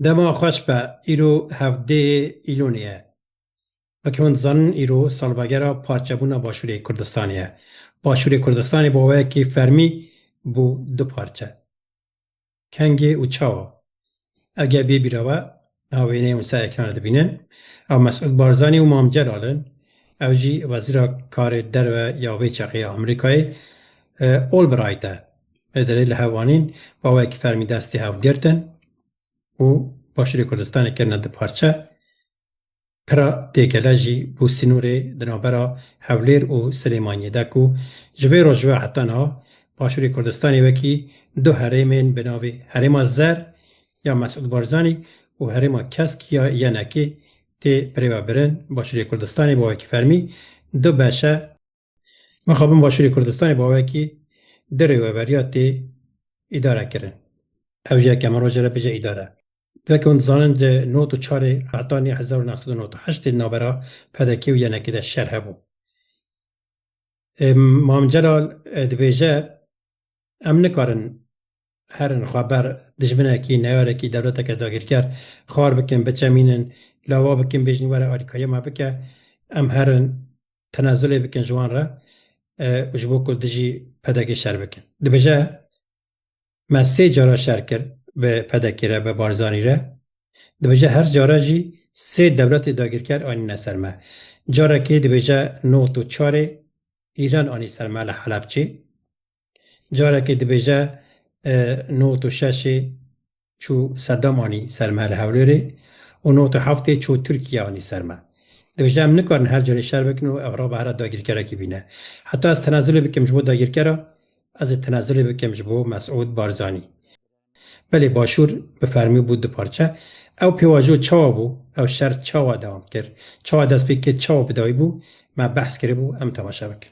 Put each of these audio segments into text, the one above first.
Dema xweş be îro hevdêyê Îlonê ye. Wekî hûn dizanin îro salvegera parçebûna Başûrê Kurdistanê ye. Başûrê Kurdistanê bi wayekî fermî bû du parçe. Kengê û çawa? Ew geh bê bîra we, niha wêneyê hûn ser ekranê dibînin, ew Mesûd Barzanî û Mam Celal in. Ew jî wezîra karê derve ya vê çeqê ya Amerîkayê Olbright e. Pederê li hevanîn bawayekî fermî destê hev girtin û başûrê Kurdistanê kirine du parçe. Pira Têgele jî bû sînorê di navbera Hewlêr û Silêmaniyê de ku ji vê roj ve heta niha başûrê Kurdistanê wekî du herêmên bi navê Herêma Zer ya Mesûd Barzanî û Herêma Kesk ya Yenekê tê birêvebirin. Başûrê Kurdistanê bawayekî fermî du beşe. Mixabin Başûrê Kurdistanê bi awayekî dirê û everiya tê îdare kirin. Ew jî yekeme roje re bije îdare. Weke hûn dizanin di not û çarê Etanî hezar û neh sed û newt û heştê di navbera PDK'ê û YNK'ê de şer hebû. Mam Celal dibêje, Em nikarin Her xweber dijminekî, neyarekî, dewleteke dagîrker xwar bikin, biçemînin, lava bikin, bêjin were alîkariya me bike, em herin tenezulê bikin ji wan re û ji bo ku dijî PDK'ê şer bikin. Dibêje, Me sê cara şer kir bi PDK'ê re, bi Barzanî re. Dibêje her care jî sê dewletê dagîrker anîne ser me. Carekê dibêje not û çarê Îran anî ser me li Helebçê. Carekê dibêje nod û şeşê çû Sedam anî ser me li Hewlêrê û nod û heftê çû Tirkiye anî ser me. Dibêje em nikarin her carê şer bikin û ev raba here dagirkerekî bîne. Heta ez tenezulê bikim ji bo dagirkera, ez ê tenezulê bikim ji bo Mesûd Barzanî. Belê Başûr bi fermî bû du parçe. Ew pêvajo çawa bû, ew şer çawa dewam kir, çawa dest pê kir, çawa bi dawî bû, me behs kiribû, em temaşe bikin.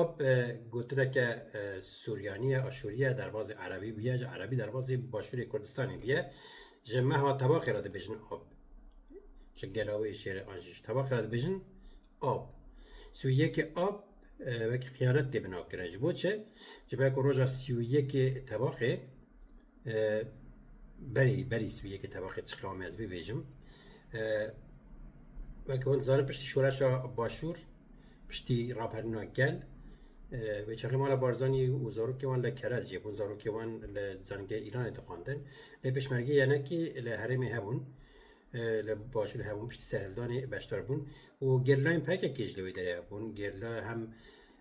Ap gotineke Suryanî ye, Aşûrî ye, derbazê Erebî bûye, ji Erebî derbazê Başûrê Kurdistanê bûye. Ji meha tebaqê re dibêjin ap. Ji gelawê şêrê an jî ji tebaqê re dibêjin ap. Sî û yekê ap wekî xiyanet tê binakirin. Ji bo çi? Ji ber ku roja sî û yekê tebaqê Berî berî sibiyeke tevaqê çiqamê ez bibêjim. Weke hûn dizanin piştî şoreşa başûr, piştî raperîna gel, wê çaxê mala Barzanî û zarokê wan li Kerez jê bûn, zarokê wan li zanîngehê Îranê dixwandin. Lê pêşmergê yenekî li herêmê hebûn, li başûrê hebûn, piştî serhildanê beşdar bûn û gerîlayên PKK'ê jî li wê derê hebûn. Gerîla hem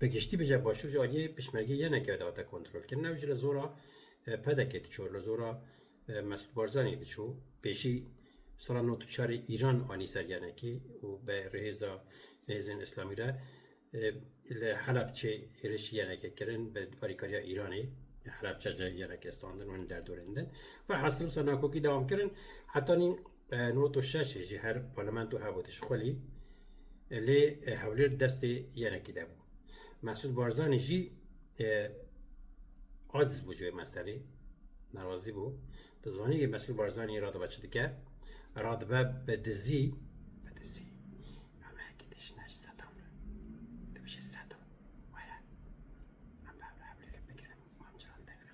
Bi giştî bije başûr ji aliyê pişmergê yê neke dihate kontrolkirin ew jî li zora PDKê diçû, li zora Mesûd Barzanî diçû. Pêşî sala nod û çarê Îran anî ser yenekê û bi rihêza hêzên Îslamî re li Helebçê hêrişî yeneke kirin bi alîkariya Îranê. Helebçe ji yenekê standin û hin derdorên din. Velhasil wisa nakokî dewam kirin heta nîn Noto şeş ji her parlamento hebû dişxulî lê Hewlêr destê yenekî de bû. Mesûd Barzanî jî aciz bû ji wê meselê nerazî bû. Dizanî wê Mesûd Barzanî radibe çi dike radibe bi dizî bi dizî hemekî dijine ji sedam re dibije sedam were em bi hev re Hewlêrê bigrin û em cîran derxin.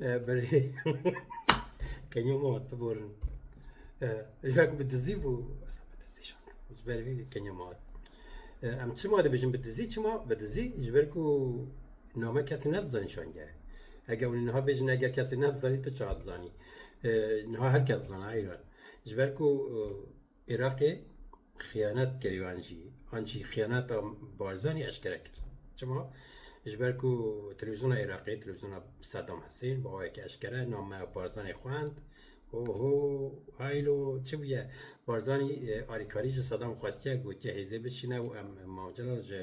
Belê kenyo mı vat biborin. Ejak bi dizi bu. Asa bi dizi şat. Jiber vê kenyo mı vat. Em çima dibijin bi dizi çima bi dizi jiber ku name kesî ne dizanî şange. Eger hûn niha bêjin eger kesî ne dizanî tu çar dizanî. Niha her kes zana eyran. Jiber ku Iraqê xiyanet kir wan jî an jî xiyaneta Barzanî eşkere kir. Çima? Ji ber ku televîzyona Iraqê, televîzyona Sedam Hesên bi awayekî eşkere nameya Barzanî xwend Oho haylo çi bûye? Barzanî e, alîkarî ji Sedam xwestiye gotiye hêzê biçîne û em Mav Celal ji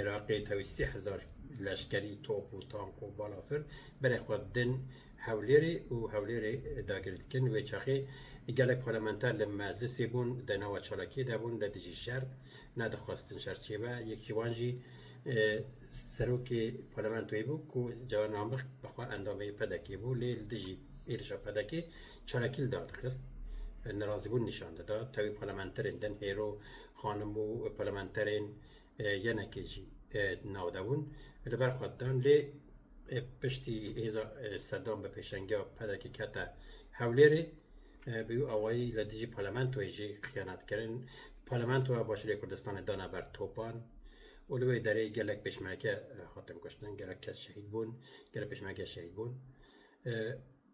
Iraqê tevî sî hezar leşkerî top û tank û balafir berê xwe din Hewlêrê û Hewlêrê dagir dikin. Wê çaxê gelek parlamenter li meclisê bûn, di nava çalakiyê de bûn, li dijî şer nedixwestin şer çêbe. Yek ji wan jî serokê parlamentoyê bû ku Cewher Namik bi xwe endamê PDK'ê bû lê li dijî êrişa PDK'ê çalakî li dar dixist. Nerazîbûn nîşan dida. Tevî parlamenterên din hêro xanim û parlamenterên Yenekê jî di nav de bûn, li ber xwe didan lê piştî hêza Sedam bi pêşengiya PDK'ê kete Hewlêrê. Bi wî awayî li dijî parlamentoyê jî xiyanat kirin. Parlamentoya Başûrê Kurdistanê dana ber topan û li wê derê gelek pêşmerge hatin kuştin, gelek kes şehîd bûn, gelek pêşmerge şehîd bûn.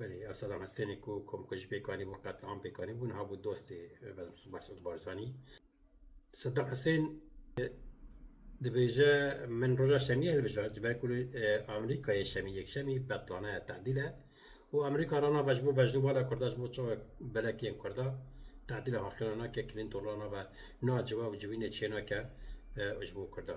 Belê ev Sedam Hestênê ku komkujî pêk anîbû qetliam pêk anîbû niha bû dostê Mesûd Barzanî. Sedam Hesên dibêje min roja şemiyê hilbijart ji ber ku li e, Amerîkayê şemî yekşemî betlane ye tedîl e û Amerîka rana be ji bo bejnûbala Kurda ji bo çawa belek yên Kurda tedîla haqîna nake Clinton rana be naciwe û civînê çênake e, ji bo Kurda.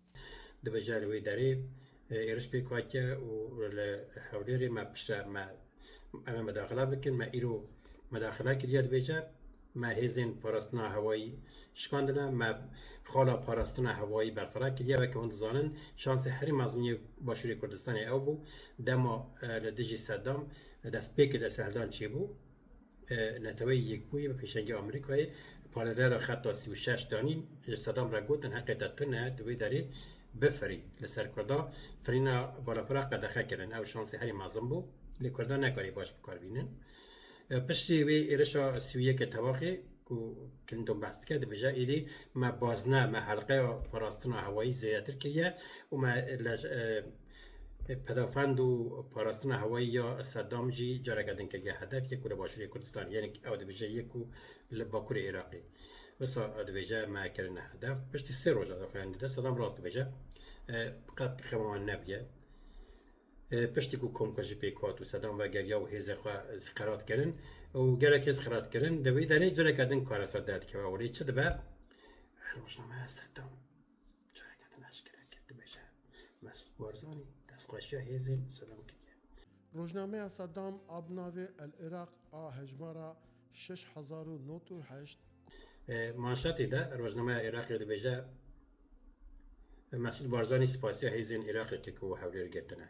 Dibêje li wê derê êriş pêk hatiye û li Hewlêrê me piştre me em ê medaxila bikin, me îro medaxila kiriye dibêje me hêzên parastina hewayî şikandine, me xala parastina hewayî berfireh kiriye. Weke hûn dizanin şansê herî mezin yê Başûrê Kurdistanê ew bû dema li dijî Sedam destpêkê desthiledan çêbû. Neteweyî Yekbûyî bi pêşengî Amerîkayê parêrera xeta sî û şeş danîn ji Sedam re gotin heqê te tune ye tu wê derê bifirî. Li ser Kurdan firîna balafira qedexe kirin. Ew şansê herî mezin bû lê Kurdan nekarî baş bi kar bînin. Piştî wê êrişa sî û yekê tevaxê ku Clinton behs dike dibêje êdî me bazne me helqeya parastina hewayî zêdetir kiriye û me li Pedafend û parastina hewayî ya Sedam jî careke din kiriye hedef yê ku li Başûrê Kurdistanê yên ew dibêje yê ku li Bakurê Iraqê wisa dibêje me kirine hedef. Piştî sê roja daxuyan dide Sedam rast dibêje qet xema wan nebûye. Piştî ku komkujî pêk hat û Sedam vegeriya û hêzê xwe xerat kirin û gelek hêz xerat kirin di wê derê careke din karesa derdikeve û lê çi dibe? Rojname Sedam. Careke din eşkereke dibêje, Mesûd Barzanî destxweşiya hêzên Sedam kiriye. Rojnameya Sedam a bi navê El Iraq a hejmara şeş hezar û nod û heşt, ku. Manşetê de rojnameya Iraqê dibêje, Mesûd Barzanî spasiya hêzên Iraqê kir ku Hewlêr girtine.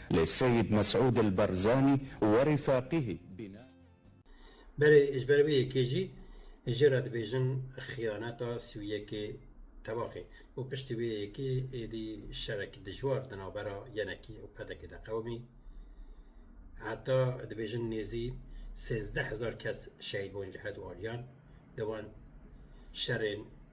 Lê Seyîd Mesûd El Barzanî werî feqîhî bîne. Belê ji ber vê yekê jî ji re dibêjin xiyaneta sî û yekê tevaxê û piştî vê yekê êdî şerekî dijwar di navbera yenekî û pedekê de qewimî. Heta dibêjin nêzî sêzdeh hezar kes şehîd bûn ji hedu aliyan di van şerên.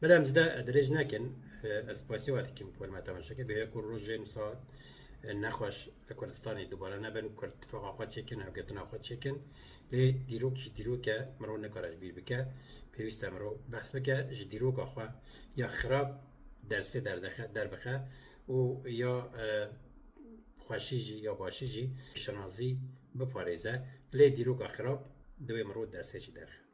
Bila em zide dirêj nekin, ez pasî wa dikim Korma Temeşekê bêya ku rojên saet nexweş li Kurdistanê dubare nebin, Kurd tifaqa xwe çêkin, hevgetina xwe çêkin. Lê dîrok jî dîrok e, mirov nikare ji bîr bike. Pêwîst e mirov behs bike ji dîroka xwe ya xirab dersê derdexe derbixe û ya xweşî jî ya başî jî şinasî biparêze. Lê dîroka xirab divê mirov dersê jî derxe.